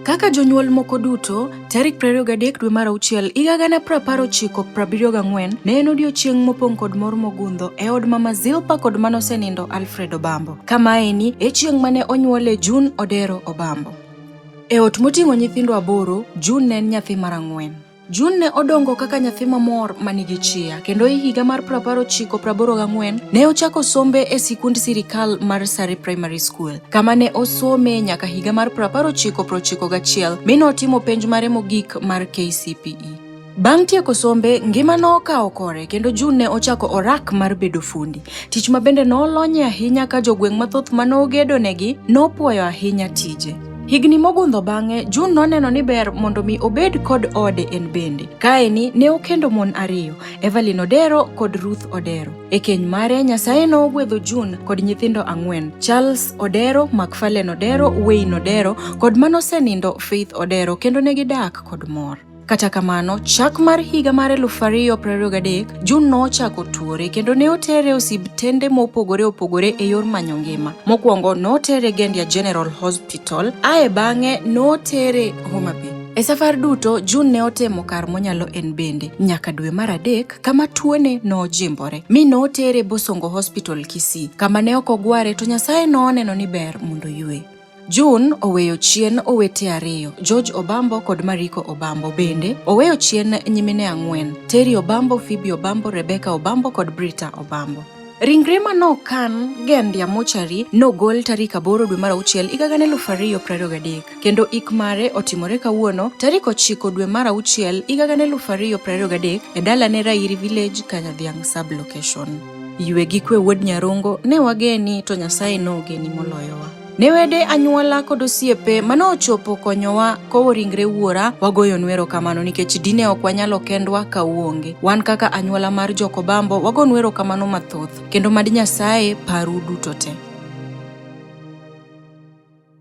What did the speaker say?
Kaka jonyuol moko duto, tarik 23 dwe mar auchiel higa gana prapar ochiko prabiriyo gang'wen ne en odiechieng' mopong' kod mor mogundho e od mama Zilpa kod manosenindo Alfred Obambo. Kamaeni e chieng' mane onyuole June Odero Obambo. E ot moting'o nyithindo aboro, June ne en nyathi mar ang'wen. Jun ne odongo kaka nyathi mamor ma nigi chia, kendo e higa mar 1984 ne ochako sombe e sikund sirikal mar Sari Primary School, kama ne osome nyaka higa mar 1991 mi notimo penj mare mogik mar KCPE. Bang' tieko sombe, ngima nokawo kore kendo June ne ochako orak mar bedo fundi, tich ma bende nolonye ahinya ka jogweng' mathoth ma nogedonegi nopwoyo ahinya tije. Higni mogundho bang'e, June noneno ni ber mondo mi obed kod ode en bende. Kaeni ne okendo mon ariyo, Evelyn Odero kod Ruth Odero. E keny mare, Nyasaye nogwedho June kod nyithindo ang'wen, Charles Odero, McFarlane Odero, Wayne Odero kod manosenindo Faith Odero kendo ne gidak kod mor. Kata kamano, chak mar higa mar 2023, Jun nochako tuore kendo ne otere osibtende mopogore opogore e yor manyo ngima. Mokwongo notere Gendia General Hospital, ae bang'e notere Homa Bay. E safar duto, Jun ne otemo kar monyalo en bende nyaka dwe mar adek kama tuone nojimbore mi notere Bosongo Hospital Kisii kama ne ok ogware to Nyasaye noneno ni ber mondo yue. June oweyo chien owete ariyo, George Obambo kod Mariko Obambo. Bende, oweyo chien nyimine ang'wen, Terry Obambo, Phoebe Obambo, Rebecca Obambo kod Brita Obambo. Ringre ma nokan Gendia Mochari nogol tarik aboro dwe mar auchiel higa gana eluf ariyo prariyo gadek kendo ik mare otimore kawuono tarik ochiko dwe mar auchiel higa gana eluf ariyo prariyo gadek e dalane Rairi Village, Kanyadhiang' Sub-location. Ywe gi kwe wuod Nyarongo, ne wageni to Nyasaye nogeni moloyowa. Ne wede anyuola kod osiepe mane ochopo konyowa kowo ringre wuora wagoyo nwero kamano nikech dine ok wanyalo kendwa ka uonge. Wan kaka anyuola mar Jokobambo wago nwero kamano mathoth kendo mad Nyasaye paru duto te.